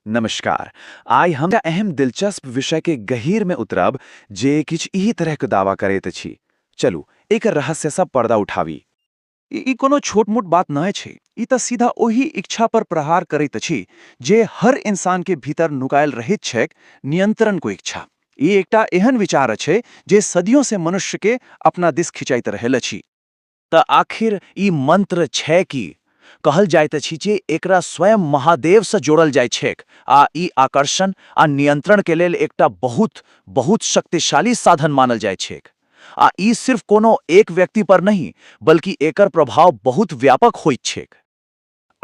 नमस्कार। आइ हम एकटा एहन दिलचस्प विषय के गहीर में उतरब जे किछु इहि तरह के दावा करैत अछि। चलू एकर रहस्य स पर्दा उठावी। ई कोनो छोट-मोट बात नञ् अछि। ई त सीधा ओहि इच्छा पर प्रहार करैत अछि जे हर इंसान के भीतर नुकायल रहैत छैक, नियंत्रण को इच्छा। ई एकटा एहन विचार अछि जे सदियों से मनुष्य के अपना दिस खिंचैत रहल अछि। त आखिर ई मंत्र छै की? कहल जाइत अछि जे एकरा स्वयं महादेव स जोड़ल जाइत छैक आ ई आकर्षण आ नियंत्रण के लेल एकटा बहुत, बहुत शक्तिशाली साधन मानल जाइत छैक। आ ई सिर्फ कोनो एक व्यक्ति पर नहि, बल्कि एकर प्रभाव बहुत व्यापक होइत छैक।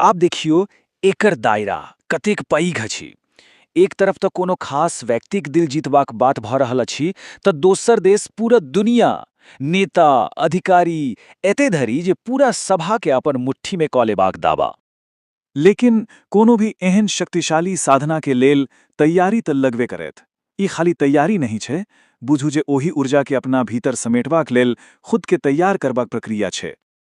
आब देखियो एकर दायरा कतेक पैघ अछि। एक तरफ त कोनो खास व्यक्तिक दिल जीतबाक बात भ रहल अछि त दोसर देस पूरा दुनिया, नेता, अधिकारी एते धरि जे पूरा सभा के अपन मुट्ठी मे क लेबाक दावा। लेकिन कोनो भी एहेन शक्तिशाली साधना के लेल तैयारी त लगवे करैत। ई खाली तैयारी नहि छै, बुझू जे ओहि ऊर्जा के अपना भीतर समेटबाक लेल खुद के तैयार करबाक प्रक्रिया छै।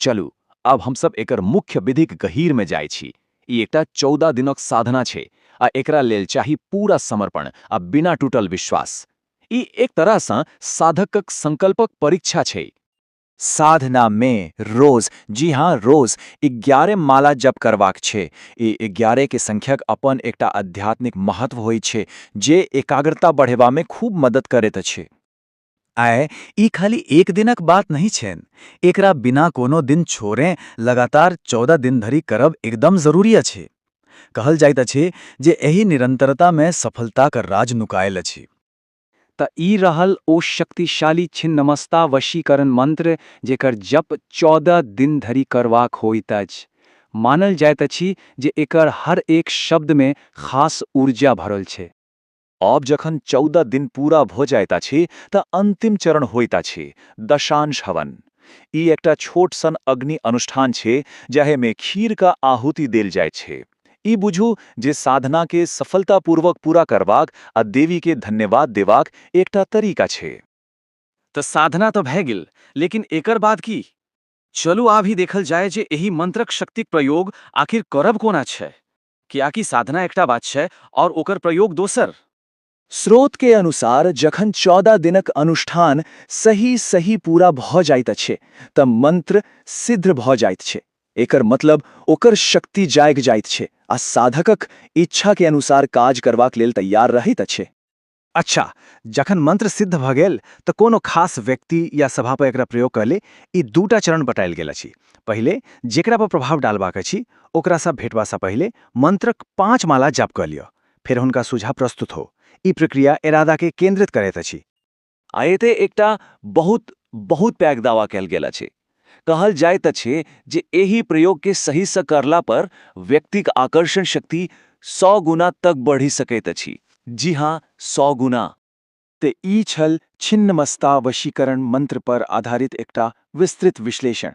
चलू, आब हम सब एकर मुख्य विधिक गहीर मे जाइ छी। ई एकटा चौदह दिनक साधना छै आ एकरा लेल चाही पूरा समर्पण आ बिना टूटल विश्वास। ई एक तरह सँ साधकक संकल्पक परीक्षा छै। साधना मे रोज, जी हाँ, रोज इग्यारे माला जप करबाक छै। ई इग्यारे के संख्यक अपन एकटा आध्यात्मिक महत्व होइत छै जे एकाग्रता बढ़ेबा मे खूब मदद करैत अछि। आय ई खाली एक दिनक बात नहि छैन एकरा बिना कोनो दिन छोड़े लगातार चौदह दिन धरि करब एकदम जरूरी अछि कहल जाइत अछि जे एहि निरंतरता में सफलता क राज नुकायल अछि त ई रहल ओ शक्तिशाली छिन्नमस्ता वशीकरण मंत्र जेकर जप चौदह दिन धरि करवाक होइत अछि मानल जाइत अछि जे एकर हर एक शब्द में खास ऊर्जा भरल छै। आब जखन चौदह दिन पूरा भऽ जाइत अछि तँ अन्तिम चरण होइत अछि, दशांश हवन। ई एकटा छोट सन अग्नि अनुष्ठान छै जाहे मे खीर क आहुति देल जाइत छै। ई बुझू जे साधना के सफलता पूर्वक पूरा करबाक आ देवी के धन्यवाद देबाक एकटा तरीका छै। त साधना त भए गेल, लेकिन एकर बाद की? चलू आब ई देखल जाए जे एहि मंत्रक शक्तिक प्रयोग आखिर करब कोना छै। कियाकि साधना एकटा बात छै और ओकर प्रयोग दोसर। स्रोत के अनुसार जखन चौदह दिनक अनुष्ठान सही सही पूरा भऽ जाइत अछि तऽ मंत्र सिद्ध्र भऽ जाइत छै। एकर मतलब ओकर शक्ति जागि जाइत छै आ साधकक इच्छा के अनुसार काज करबाक लेल तैयार रहैत अछि। अच्छा, जखन मंत्र सिद्ध भऽ गेल तऽ कोनो खास व्यक्ति या सभा पर एकरा प्रयोग कऽ ले। ई दू टा चरण बताएल गेल अछि। पहिले, जेकरा पर प्रभाव डालबाक अछि, ओकरा सँ भेटबा सँ पहिले मंत्रक पाँच माला जाप कऽ लिअ। फेर हुनका सोझाँ प्रस्तुत हो। ई प्रक्रिया एरादा केँ केन्द्रित करैत अछि। आ एतय एकटा बहुत, बहुत पैघ दावा कएल गेल अछि। कहल जाइत अछि जे एहि प्रयोग के सही स करला पर व्यक्तिक आकर्षण शक्ति सौ गुना तक बढ़ि सकैत अछि। जी हाँ, सौ गुना। ते ई छल छिन्नमस्ता वशीकरण मंत्र पर आधारित एकटा विस्तृत विश्लेषण।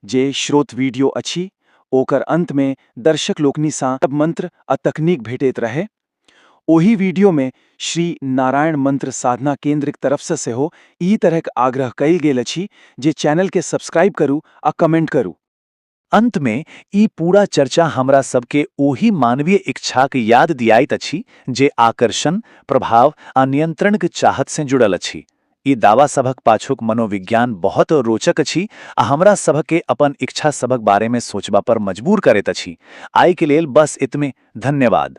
जे श्रोत वीडियो अछि ओकर अंत मे दर्शक लोकनि सँ मंत्र आ तकनीक भेटैत रहए ओहि वीडियो मे श्री नारायण मंत्र साधना केंद्रक तरफ स सेहो ई तरहक आग्रह कयल गेल अछि जे चैनल के सब्सक्राइब करू आ कमेंट करू। अंत मे ई पूरा चर्चा हमरा सब के ओहि मानवीय इच्छाक याद दियाइत अछि जे आकर्षण, प्रभाव आ नियंत्रणक चाहत सँ जुड़ल अछि। ई दावा सभक पाछूक मनोविज्ञान बहुत रोचक अछि आ हमरा सभ के अपन इच्छा सभक बारे मे सोचबा पर मजबूर करैत अछि। आइ के लेल बस एतमे। धन्यवाद।